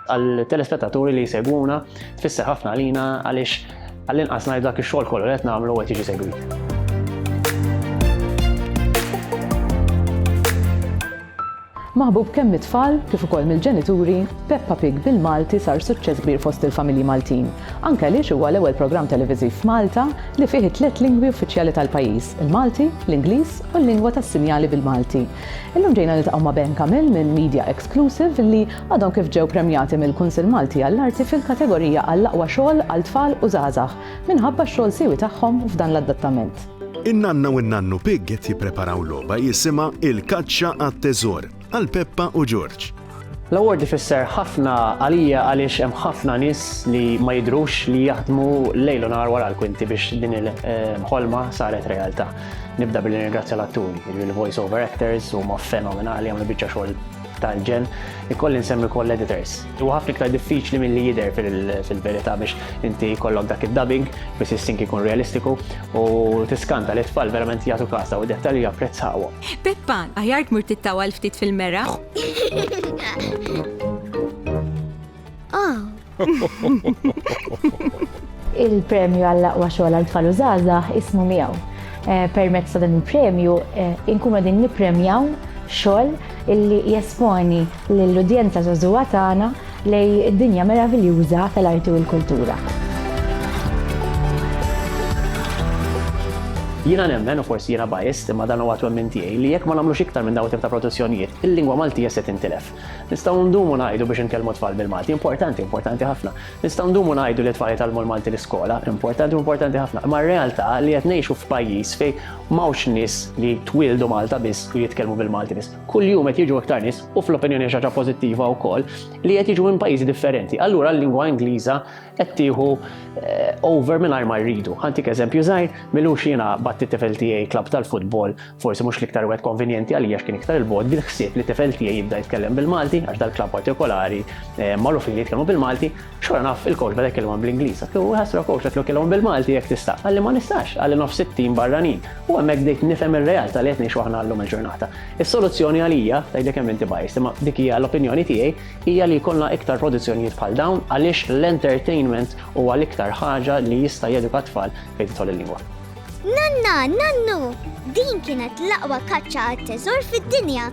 Għal-telespetaturi li jsegwuna, tfisser ħafna għalina għaliex għall-inqas ngħid dak ix-xogħol kollu qed nagħmlu qed jiġi segwit. Maħbub kemm mit-tfal kif ukoll mill-ġenituri, Peppa Pig bil-Malti sar suċċess kbir fost il-familji Maltin. Anke għaliex huwa l-ewwel programm televiżiv f'Malta li fih it-tliet lingwi uffiċjali tal-pajjiż, il-Malti, l-Ingliż u l-lingwa tas-sinjali bil-Malti, Illum ġejna niltaqgħu ma' Ben Kamil minn Media Exclusive li għadhom kif ġew premjati mill-Kunsill Malti għall-Arti fil-kategorija għall-aqwa xogħol għal tfal u żgħażagħ minħabba x-xogħol siewi tagħhom f'dan l-adattament. In-nanna u n-nannu Pig qed jippreparaw logħba jisimha Il-Kaċċa għat-Teżor għal Peppa u Ġorġ. L-award ifisser ħafna għalija għaliex hemm ħafna nies li ma jidrux li jaħdmu lejl u nar wara l-kwinti biex din il-ħolma saret realtà. Nibda billi ringrazzja l-atturi, il-voice over actors huma fenomenali għamlu biċċa xogħol tal-ġen, ikolli nsemmi koll editors. U ħafna iktar diffiċli mill-li jider fil-verita biex inti kollok dak il-dubbing, biex il-sink ikun realistiku u tiskanta li tfal verament jgħatu kasa u dettalji japprezzawhom. Peppa, għajar tmur tittawa l-ftit fil-mera? Oh. Il-premju għall-aqwa xogħol għal tfal użaza ismu miegħu. Eh, permezz ta' dan il-premju eh, inkunu din nippremjaw xogħol illi jesponi lill-udjenza żagħżugħa tagħna lejn id-dinja meraviljuża tal-arti u l-kultura. Jiena nemmen, u forsi jiena biased, imma dan huwa twemmin tiegħi, li jekk ma nagħmlux iktar minn dawn it-tip ta' produzzjonijiet, il-lingwa Maltija se tintilef. Nistgħu ndumu ngħidu biex inkellmu t-tfal bil-Malti, importanti, importanti ħafna. Nistgħu ndumu ngħidu li t-tfal jitgħallmu l-Malti l-iskola, importanti u importanti ħafna. Imma r-realtà li qed ngħixu f'pajjiż fejn m'hawnx nies li twieldu Malta biss u jitkellmu bil-Malti biss. kuljum qed jiġu iktar nies u fl-opinjoni xi ħaġa pożittiva wkoll li qed jiġu minn pajjiżi differenti. Allura l-lingwa Ingliża qed tieħu eh, over mingħajr ma rridu. Ħantik eżempju żgħir, milux jiena batti tifel tiegħi klab tal-futbol, forsi mhux l-iktar wieħed konvenjenti għalija x'kien iktar il-bod bil-ħsieb li tifel tiegħi jibda jitkellem bil-Malti għax dal-klab partikolari eh, magħrufin li jitkellmu bil-Malti, X'wara naf il-coach beda jkellmhom bl-Ingliż. Għatlu, Ħassra coach, għatlu kellhom bil-Malti jekk tista'. Qalli ma nistax, qalli nofs it-tim barranin. U hemmhekk bdejt nifhem ir-realtà li qed ngħixu aħna llum il-ġurnata. Is-soluzzjoni għalija, tgħidli kemm inti biased, imma dik hija l-opinjoni tiegħi, hija li jkollna iktar produzzjonijiet bħal dawn għaliex l-entertainment huwa l-iktar ħaġa li jista' jeduka t-tfal fejn tidħol il-lingwa. Nanna, nannu! Din kienet l-aqwa kaċċa għat-teżor fid-dinja!